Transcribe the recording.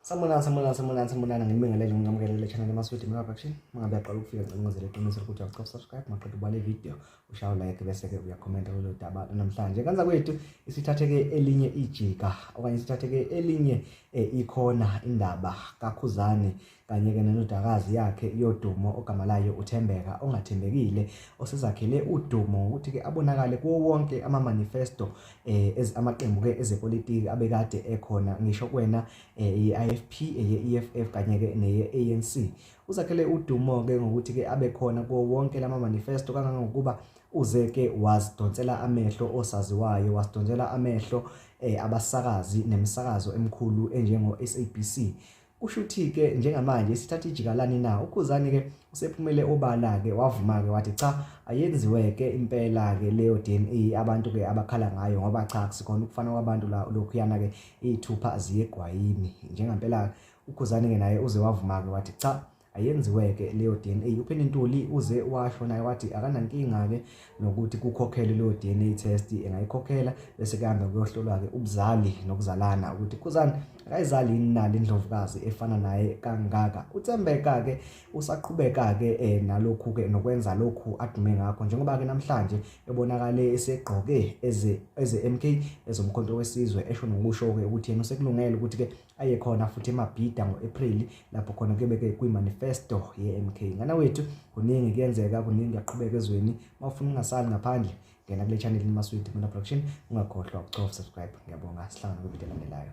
Sanibonani, sanibonani, sanibonani, sanibonani. Ngibingelele ngingamkelele channel Maswidi Mura Production. Mangabe uyaqala ukufika ngicela ungenzele iqiniso lokuthi awucof subscribe, maqeda ubale video, ushaye like bese ke uyakhomenta kulolu daba namhlanje. Kanza kwethu isithatheke elinye ijika okanye isithatheke elinye eh, ikhona indaba kaKhuzani kanye ke nenodakazi yakhe yodumo ogama layo uThembeka ongathembekile osezakhele udumo ukuthi ke abonakale kuwo wonke ama manifesto eh amaqembu ke ezepolitiki abekade ekhona ngisho kwena eh, i-IFP eye-EFF kanye ke neye-ANC uzakhele udumo ke ngokuthi ke abe khona kuwo wonke lama manifesto kangangokuba uze ke wasidonsela amehlo osaziwayo wasidonsela amehlo eh abasakazi nemisakazo emikhulu enjengo SABC Kushuthi-ke njengamanje isithatha ijikalani na? UKhuzani-ke usephumele obala-ke wavuma-ke wathi cha ayenziwe-ke impela-ke leyo DNA abantu-ke abakhala ngayo ngoba cha kusikhona ukufana kwabantu la lokhuyana-ke iy'thupha ziyegwayini njengampela uKhuzani-ke naye uze wavuma-ke wathi cha ayenziweke leyo DNA upheni ntuli uze washo naye wathi akanankinga ke nokuthi kukhokhelwe leyo DNA test engayikhokhela bese kuhamba kuyohlolwa ke ubuzali nokuzalana ukuthi khuzani akayizali yini nali indlovukazi efana naye kangaka uthembeka ke usaqhubeka ke eh, nalokhu ke nokwenza lokhu adume ngakho njengoba ke namhlanje ebonakale esegqoke eze eze MK ezomkhonto wesizwe esho nokusho ke ukuthi yena usekulungele ukuthi ke ayekhona futhi emabhida ngo-April lapho khona kuyobe kwi-manifesto ye-MK ngana wethu kuningi kuyenzeka kuningi kuyaqhubeka ezweni uma ufuna ungasali ngaphandle ngena kule channel imaswidi mina production ungakhohlwa ukucofa subscribe ngiyabonga sihlangana kwividiyo elandelayo